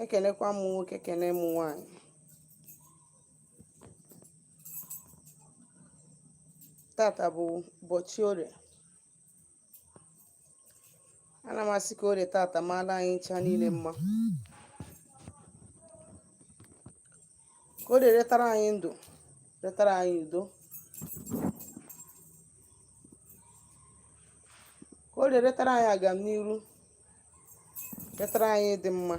ekenekwa m nwoke ekene m nwaanyị tata bụ ụbọchị orie ana m asị ka orie tata maala anyị ncha niile mma ka orie retara anyị ndụ retara anyị udo ka orie retara anyị agamniru retara anyị ịdị mma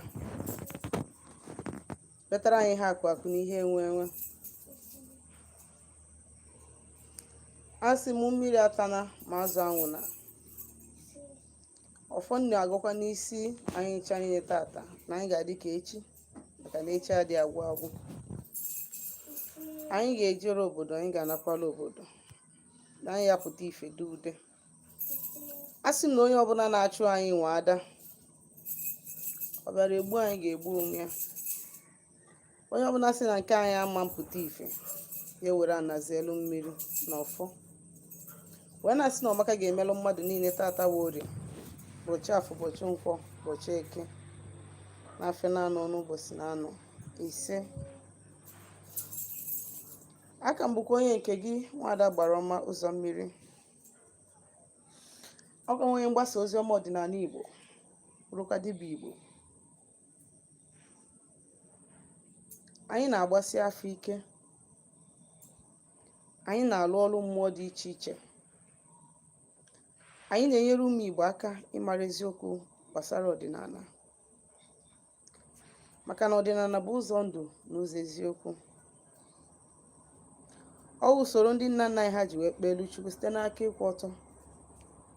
retara anyị ihe akụ akụ na ihe enwe enwe asị m mmiri atana ma azụ anwụna ọfọ m na-agọkwa n'isi anyị ncha niile tata na anyị ga-adị ka echi maka na echi adị agwụ agwụ anyị ga-ejere obodo anyị ga-anakwala obodo na anyị ya-apụta ife dị ude asị m na onye ọbụla na-achụ anyị nwe ada ọ bịara egbu anyị ga-egbu onwe ya onye ọbụla sị na nke anyị ama pụta ife ya were ana zelu mmiri na ọfọ wee na-asị na ọma ka ga-emelụ mmadụ niile tata wụ orie ụbọchị afọ ụbọchị nkwọ ụbọchị eke na afịa na-anọ n'ụbọchị na-anọ ise a ka m bụkwa onye nke gị nwada gbara ọma ụzọ mmiri ọ ka onye mgbasa ozi ọma ọdịnala igbo bụrụkwa dibịa igbo anyị na-agbasi afa ike anyị na-alụ ọrụ mmụọ dị iche iche anyị na-enyere ụmụ Igbo aka ịmara eziokwu gbasara ọdịnala maka na ọdịnala bụ ụzọ ndụ na ụzọ eziokwu ọ wụ usoro ndị nna nna anyị ha ji wee kpeelu Chukwu site n'aka ịkwụ ọtọ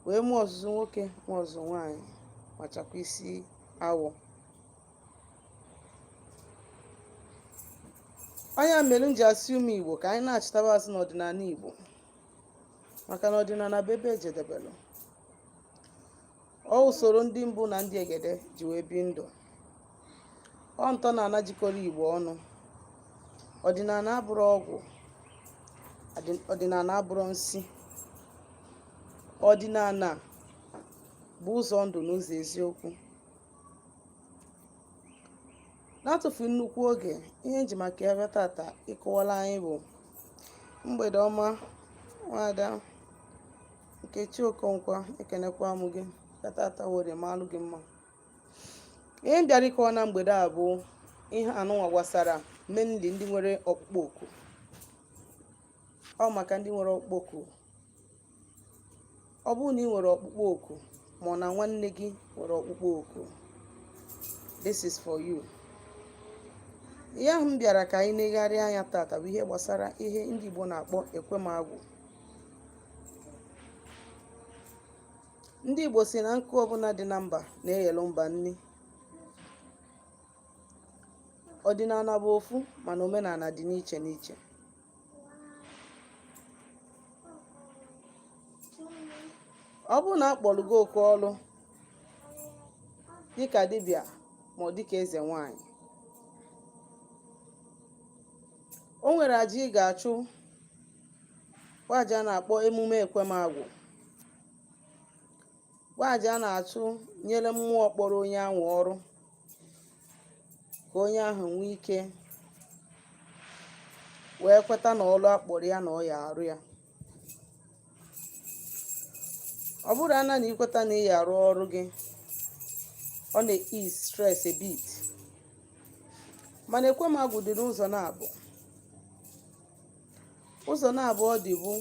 wee mụọ ọzụzụ nwoke mụọ ọzụzụ nwaanyị ma chakwa isi awọ ọ nya mere m ji asị ụmụ igbo ka anyị nachitaba azụ n'ọdịnala igbo maka na ọdịnala bụ ebe ejedebelụ ọ usoro ndị mbụ na ndị egede ji wee bi ndụ ọ ntọ na ana jikọrọ igbo ọnụ ọdịnala abụrọ ọgwụ ọdịnala abụrọ nsi ọdịnala bụ ụzọ ndụ na ụzọ eziokwu n'atụfu nnukwu oge ihe m ji maka ya bịa tata ịkọwara anyị bụ mgbede ọma nwada nkechi okonkwa ekenekwa m gị tata orie malụ gị mma ihe m bịara ịkọwa na mgbede a bụ ihe anụnwa gbasara mainly ndị nwere ọkpụkpọ oku ọ maka ndị nwere ọkpụkpọ oku ọ bụrụ na ị nwere ọkpụkpọ oku ma ọ na nwanne gị nwere ọkpụkpọ oku this is for you ihe ahụ m bịara ka anyị negharịa anya tata bụ ihe gbasara ihe ndị Igbo na-akpọ ekwemagwụ ndị Igbo si na nkụ ọbụla dị na mba na-eghelu mba nni ọdịnala bụ ofu mana omenala dị n'iche n'iche ọ bụrụ na a kpọrọ gị oku ọrụ dịka dibịa ma ọ dịka eze nwanyị o nwere aja ị ga-achụ bụ aja a na-akpọ emume ekwemagwụ bụ aja a na-achụ nyere mmụọ kpọrọ onye ahụ ọrụ ka onye ahụ nwee ike wee kweta na ọlụ a kpọrọ ya na ọ ya arụ ya ọ bụrụ ana na i kweta na ị ya arụ ọrụ gị ọ na-ease stress a bit mana ekwe m agwụ dị n'ụzọ naabọ ụzọ naabọ ọ dị bụ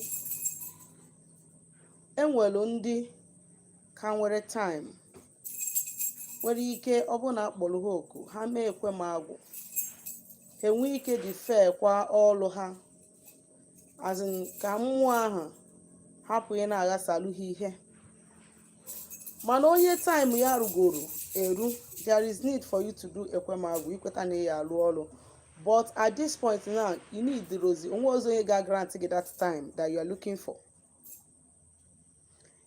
e nwelu ndị ka nwere time nwere ike ọ bụrụ na a kpọrọ ha oku ha mee ekwe m agwụ ha enwee ike defer kwa ọrụ ha as in ka mmụọ ahụ hapụ ị na-aghasalụ ha ihe mana onye time ya rugoro eru there is need for you to do ekwemagwụ i kweta na ị ya alụ ọrụ but at this point now i needirozi o nwerozi onye ga-agrant gị that time that you are looking for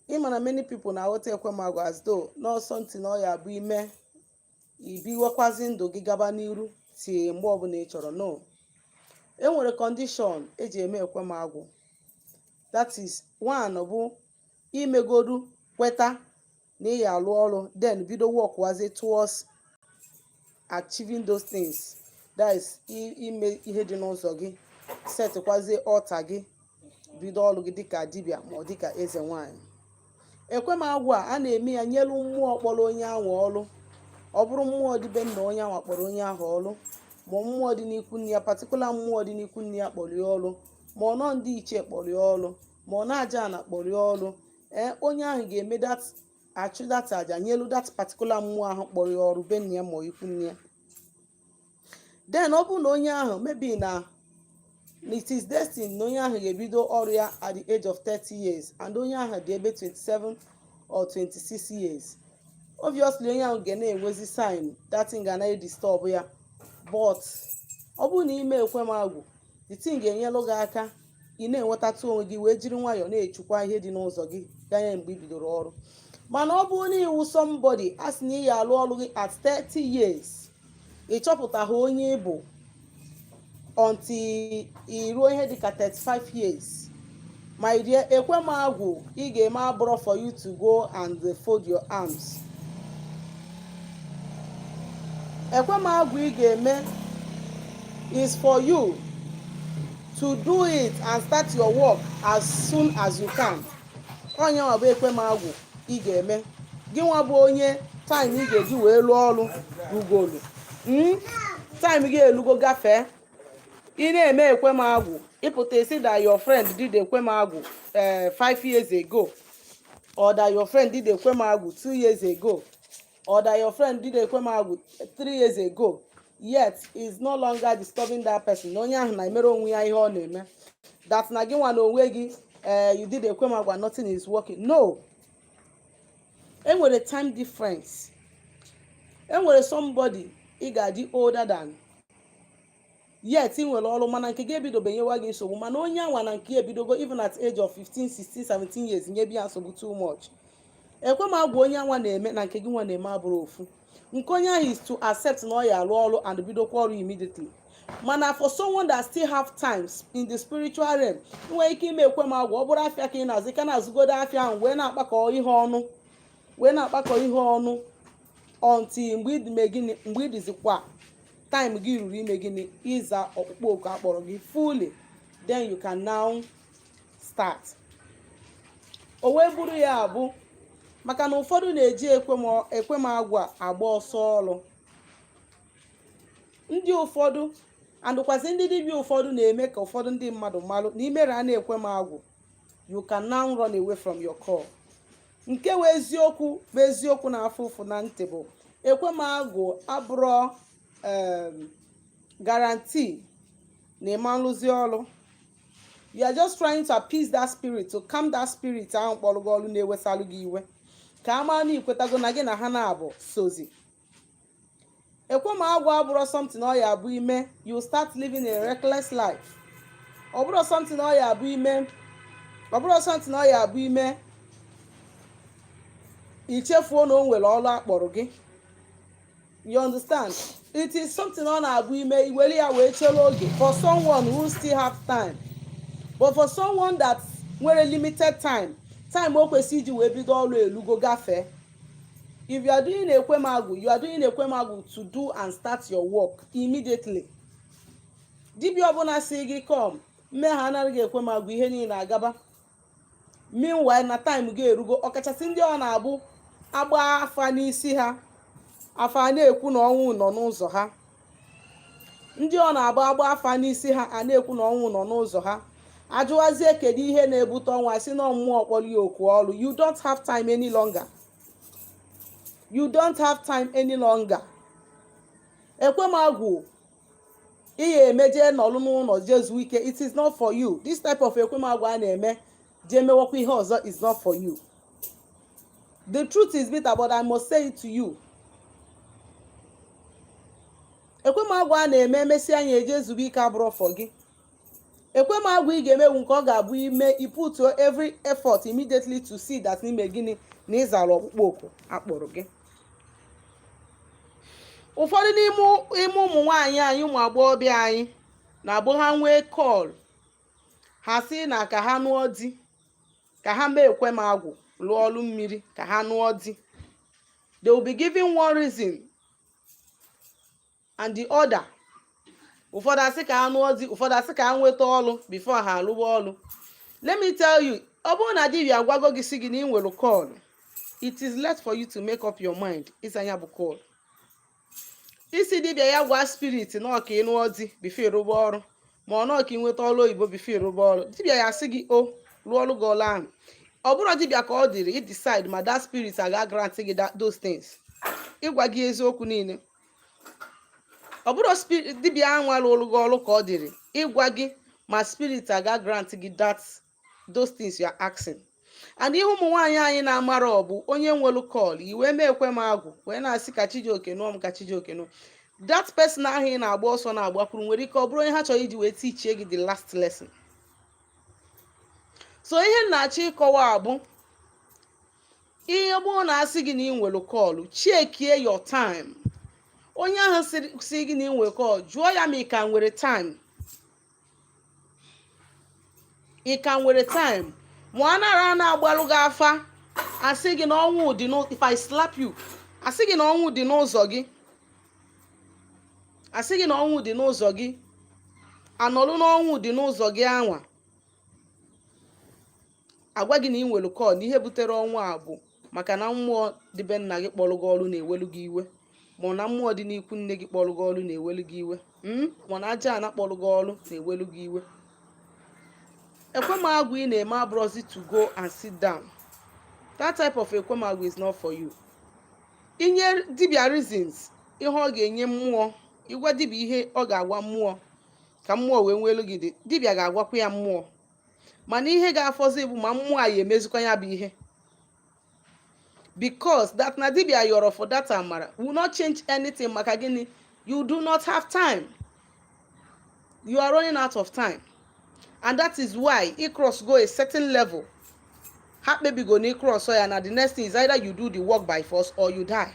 ị ma na many people na-aghọta ekwemagwụ as though na ọ something na ọ ya abụ i mee i biwekwazi ndụ gị gaba n'iru till mgbe ọbụla ị chọrọ no e nwere condition e ji eme ekwemagwụ that is one bụ i megodu kweta na ị ya alụ ọrụ then bido workwazi towards achieving those things that is ime ihe dị n'ụzọ gị setịkwazie altar gị bido ọrụ gị dịka dibịa ma ọ dịka eze nwanyị ekwe m agwụ a na-eme ya nyelu mmụọ kpọrọ onye ahụ ọrụ ọ bụrụ mmụọ dị be nna onye ahụ kpọrọ onye ahụ ọrụ ma mmụọ dị n'ikwu nne ya particular mmụọ dị n'ikwu nne ya kpọrọ ya ọrụ ma ọ na ndị ichie kpọrọ ya ọrụ ma ọ na aja ana kpọrọ ya ọrụ ee onye ahụ ga-eme that achụ that aja nyelu that particular mmụọ ahụ kpọrọ ya ọrụ be nna ya ma ikwu nne ya then ọ bụrụ na onye ahụ maybe na na it is destined na onye ahụ ga-ebido ọrụ ya at the age of 30 years and onye ahụ dị ebe 27 or 26 years obviously onye ahụ ga na-enwezi sign that thing ga na-edisturb ya but ọ bụrụ na i mee ekwe m agwụ the thing ga-enyelụ gị aka ị na-enwetatụ onwe gị wee jiri nwayọọ na-echukwa ihe dị n'ụzọ gị ganye mgbe i bidoro ọrụ mana ọ bụrụ na ị wụ somebody a sị na ị ya alụ ọrụ gị at 30 years ị chọpụtaghị onye ị bụ until i ruo ihe dịka 35 years my dear ekwe m agwụ ị ga-eme abụrọ for you to go and fold your arms ekwe m agwụ ị ga-eme is for you to do it and start your work as soon as you can onye nwa bụ ekwe m agwụ ị ga-eme gị nwa bụ onye time ị ga-eji wee lụọ ọrụ rugolu Mm? time gị elugo gafee ị na-eme ekwe m agwụ ị pụta ị sị that your friend did ekwe m agwụ eh, five years ago or that your friend did ekwe m agwụ two years ago or that your friend did ekwe m agwụ three years ago yet is no longer disturbing that person onye ahụ na-emere onwe ya ihe ọ na-eme that na gị nwa na onwe gị eh, you did ekwe m agwụ and nothing is working no enwere time difference enwere somebody ị ga-adị older than yet ị nwere ọrụ mana nke gị ebidobe nyewa gị nsogbu mana onye anwa na nke ya ebidogo even at age of 15 16 17 years nyebe ya nsogbu too much ekwe m agwụ onye anwa na-eme na nke gị nwa na-eme abụrọ ofu nke onye ahụ is to accept na ọ ya arụ ọrụ and bidokwa ọrụ immediately mana for someone that still have times in the spiritual realm nwee ike ime ekwe m agwụ ọ bụrụ afịa ka ị na-azụ ka na-azụgodo afịa ahụ wee na-akpakọ ihe ọnụ wee na-akpakọ ihe ọnụ until mgbe ịdịme gịnị mgbe ị dịzikwa time gị ruru ime gịnị ịza ọkpụkpọ oku a kpọrọ gị fully then you can now start o wee bụrụ ya bụ maka na ụfọdụ na-eji ekwe m agwụ agba ọsọ ọrụ ndị ụfọdụ and kwazị ndị dibịa ụfọdụ na-eme ka ụfọdụ ndị mmadụ malụ na i mere a na-ekwe m agwụ you can now run away from your call nke wụ eziokwu bụ eziokwu na-afụ ụfụ na ntị bụ ekwe m agwụ abụrọ um, guarantee na ị ma nrụzi ọrụ you are just trying to appease that spirit to calm that spirit ahụ kpọrọ gị ọrụ na-ewesalụ gị iwe ka a mara na i kwetago na gị na ha naabọ sozi ekwe m agwụ abụrọ something ọ ya abụ i mee you start living a reckless life ọ bụrọ something ọ ya abụ i mee i chefuo na o nwere ọrụ a kpọrọ gị you understand it is something ọ na-abụ i mee i were ya wee chere oge for someone who still have time but for someone that nwere limited time time o kwesịrị iji wee bido ọrụ elugo gafee if you are doing ekwe m agwụ you are doing ekwe m agwụ to do and start your work immediately dibia ọbụla si gị ka m mee ha anaghị ekwe m agwụ ihe niile agaba meanwhile na time gị erugo ọkachasị ndị ọ na-abụ a gbaa afa n'isi ha afa na-ekwu na ọnwụ nọ n'ụzọ ha ndị ọ na-abụ a gbaa afa n'isi ha a na-ekwu na ọnwụ nọ n'ụzọ ha ajụwazie kedu ihe na-ebute ọnwụ asị na mmụọ kpọrọ ya oku ọrụ you don't have time any longer you don't have time any longer ekwe m agwụ ị ya-eme je nọlụ n'ụlọ je zuo ike it is not for you this type of ekwe m agwụ a na-eme jee mewakwa ihe ọzọ is not for you the truth is bitter but i must say it to you ekwe m agwụ a na-eme emesịa anyị ejee zuo ike abụrọ for gị ekwe m agwụ ị ga-eme wụ nke ọ ga-abụ i mee i putuo every effort immediately to see that na i mee gịnị na ị zara ọkpụkpọ oku a kpọrọ gị ụfọdụ n'ime ụmụ nwaanyị anyị ụmụ agbọghọbịa anyị na-abụ ha nwee call ha si na ka ha nụọ di ka ha mee ekwe m agwụ lụọ ọlụ mmiri ka ha nụọ di they will be giving one reason and the other ụfọdụ asị ka ha nụọ di ụfọdụ asị ka ha nweta ọlụ before ha alụwa ọlụ let me tell you ọ bụrụ na dibia agwago gị si gị na ị nwere call it is left for you to make up your mind ịza ya bụ call ị sị dibịa ya gwa spirit na ọ ka ị nụọ di before ị rụba ọrụ ma ọ na ọ ka ị nweta ọrụ oyibo before ị rụba ọrụ dibịa ya sị gị o rụọrọ gị ọrụ ahụ ọ bụrọ dibịa ka ọ dịrị i decide ma that spirit aga grant gị that- those things ịgwa gị eziokwu niile ọ bụrọ dibịa ahụ alụrụ gị ọrụ ka ọ dịrị ịgwa gị ma spirit aga grant gị that those things you are asking and ihe ụmụ nwaanyị anyị na-amarọ bụ onye nwelu call wee mee ekwe m agwụ wee na-asị ka chijioke nụọ m ka chijioke nụọ that person ahụ ị na-agba ọsọ na-agbakwuru nwere ike ọ bụrụ onye ha chọrọ iji wee tichie gị the last lesson so ihe m na-achọ ịkọwa bụ onye ọbụna sị gị na ị nwere call chekie your time onye ahụ sị gị na ị nwere call jụọ ya ma ị ka nwere time ị ka nwere time ma ọ nara a na-agbalụ gị afa asị gị na ọnwụ dị n'ụ- if I slap you asị gị na ọnwụ dị n'ụzọ gị asị gị na ọnwụ dị n'ụzọ gị anọlụ na ọnwụ dị n'ụzọ gị anwa a gwa gị na ị nwere call na ihe butere ọnwụ a bụ maka na mmụọ dị be nna gị kpọrọ gị ọrụ na-ewelu gị iwe ma na mmụọ dị n'ikwu nne gị kpọrọ gị ọrụ na-ewelu gị iwe hmm? ma na aja ana kpọrọ gị ọrụ na-ewelu gị iwe ekwe m agwụ ị na-eme abụrọzi to go and sit down that type of ekwe m agwụ is not for you i nye dibia reasons ihe ọ ga-enye mmụọ ị gwa dibia ihe ọ ga-agwa mmụọ ka mmụọ wee nwelu gị ndidi dibia ga-agwakwa ya mmụọ mana ihe ga-afọzi bụ ma mmụọ a ya-emezikwa ya bụ ihe because that na dibia yọrọ for that amara will not change anything maka gịnị you do not have time you are running out of time and that is why ị cross go a certain level ha kpebigo na ị crossọ ya na the next thing is either you do the work by force or you die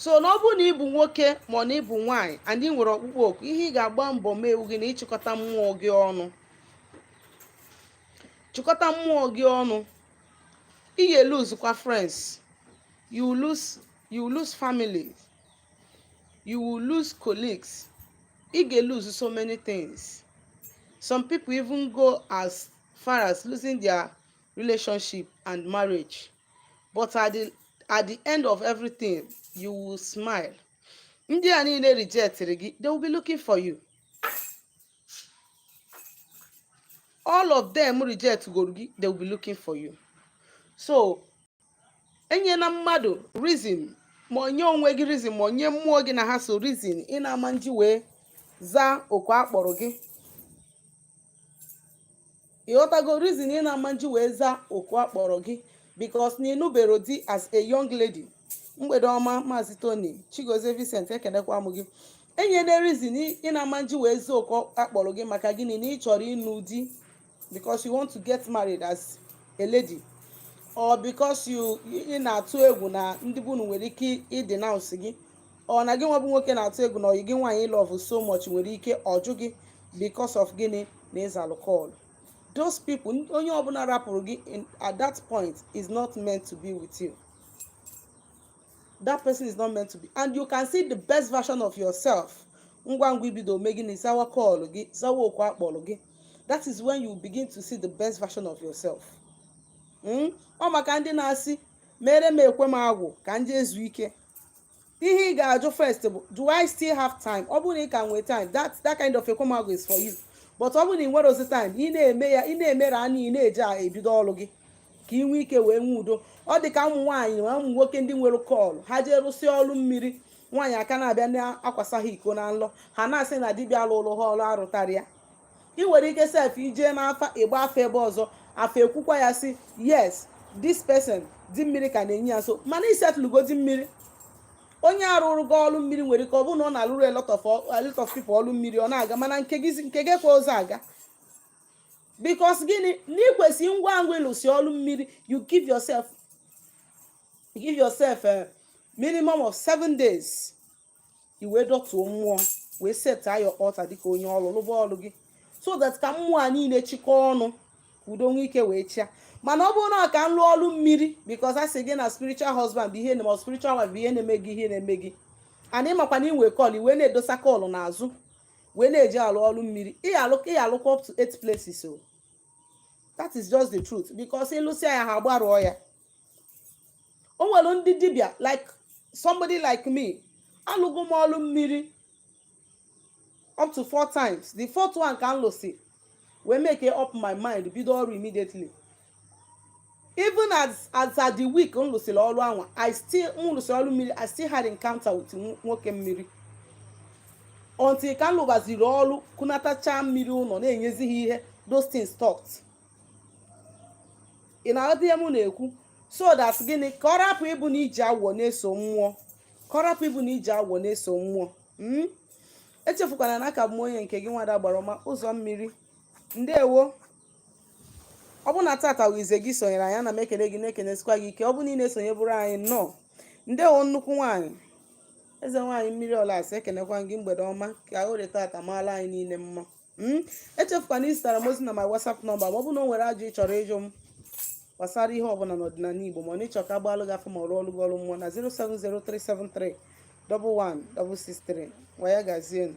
so na ọ bụrụ na ị bụ nwoke ma na ị bụ nwaanyị and ị nwere ọkpụkpọ oku ihe ị ga-agba mbọ mee bụ gịnị ịchịkọta mmụọ gị ọnụ chịkọta mmụọ gị ọnụ ị ga-lose kwa friends you lose you lose family you will lose colleagues ị ga-lose so many things some people even go as far as losing their relationship and marriage but at the, at the end of everything you will smile ndị a niile rejectịrị gị they will be looking for you all of them reject goro gị they will be looking for you so enyena mmadụ reason ma ọ nye onwe gị reason ma ọ nye mmụọ gị na ha so reason ị na-ama nji wee zaa oku a kpọrọ gị ị ghọtago reason ị na-ama nji wee zaa oku a kpọrọ gị because na ị nụbero di as a young lady mgbede ọma maazị tony chigozie vincent ekenekwa m gị enyena reason ị na-ama nji wee zaa oku a kpọrọ gị maka gịnị na ị chọrọ ịnụ di because you want to get married as a lady or because you ị na-atụ egwu na ndị be unu nwere ike ịdenounce gị or na gị nwa bụ nwoke na-atụ egwu na ọyị gị nwaanyị ị love so much nwere ike ọ jụ gị because of gịnị na ị zalụ call those people n- onye ọbụla rapụrụ gị in- at that point is not meant to be with you that person is not meant to be and you can see the best version of yourself ngwa ngwa i bido mee gịnị zawa call gị zawa oku a kpọrọ gị that is when you begin to see the best version of yourself Mm? ọ maka ndị na-asị mere m ekwe m agwụ ka m jee zuo ike ihe ị ga-ajụ first bụ do i still have time ọ bụrụ na ị ka nwee time that that kind of ekwe m agwụ is for you but ọ bụrụ na ị nwerọzi time ị na-eme ya ị na-emere anya ị na-eji ya ebido ọrụ gị ka ị nwee ike wee nwee udo ọ dị ka ụmụ nwaanyị na ụmụ nwoke ndị nwere call ha jee rụsịa ọrụ mmiri nwaanyị a ka na-abịa na-akwasa ha iko na nlọ ha na-asị na dibịa lụlụ ha ọrụ arụtarọ ya ị nwere ike sef ijee n'afa ịgba afa ebe ọzọ afa ekwukwa ya sị yes this person di mmiri ka na-enye ya so mana i settlego di mmiri onye a rụrụ gị ọrụ mmiri nwere ike ọ bụrụ na ọ na-alụrụ a lot of a lot of people ọrụ mmiri ọ na-aga mana nke gị nke gị kwa ụzọ aga because gịnị na i kwesị ngwa ngwa ị lụsị ọrụ mmiri you give yourself give yourself a minimum of seven days i wee dọtuo mmụọ wee set your altar dịka onye ọrụ lụba ọrụ gị so that ka mmụọ a niile chịkọọ ọnụ ka udo nwee ike wee chịa mana ọ bụrụ na ka m lụọ ọrụ mmiri because a sị gị na spiritual husband bụ ihe na spiritual wife bụ ihe na-eme gị ihe na-eme gị and ị makwa na i nwe call wee na-edosa call n'azụ wee na-eji alụ ọrụ mmiri ị alụkwa up to eight places so that is just the truth because ị lụsịa ya ha agbarụọ ya o nwere ndị dibịa like somebody like me alụgo m ọlụ mmiri up to four times the fourth one ka m lụsị wee make up my mind bido ọrụ immediately even as as at the week m lụsịrị ọrụ anwa i still m lụsịrị ọrụ mmiri i still had encounter with nwoke mmiri until ka m lụbaziri ọrụ kunatacha mmiri ụlọ na-enyezi ha ihe those things stopped ị na-aghọta ihe m na-ekwu so that gịnị ka ọ rapụ ịbụ na iji awọ na-eso mmụọ ka ọ rapụ ịbụ na iji awọ na-eso mmụọ hmm? echefukwana na aka m bụ onye nke gị nwada agbara ọma ụzọ mmiri ndewo ọ bụ na tata bụ izizi gị sonyere anyị ana m ekele gị na-ekenesikwa gị ike ọ bụ na ị na-esonyeburu anyị nnọọ ndewo nnukwu nwaanyị eze nwaanyị mmiri ụlasị ekenekwa gị mgbede ọma ka orie tata maala anyị niile mma Mm? echefukwana izitara m ozi na my whatsapp number ma ọ bụ na o nwere ajụ ị chọrọ ịjụ m gbasara ihe ọbụla n'ọdịnala igbo ma ọ na ị chọ ka a gbaalụ gị afa ma rụọlụ gị ọrụ mmụọ na 07037311663 ngwa ya gazie nụ.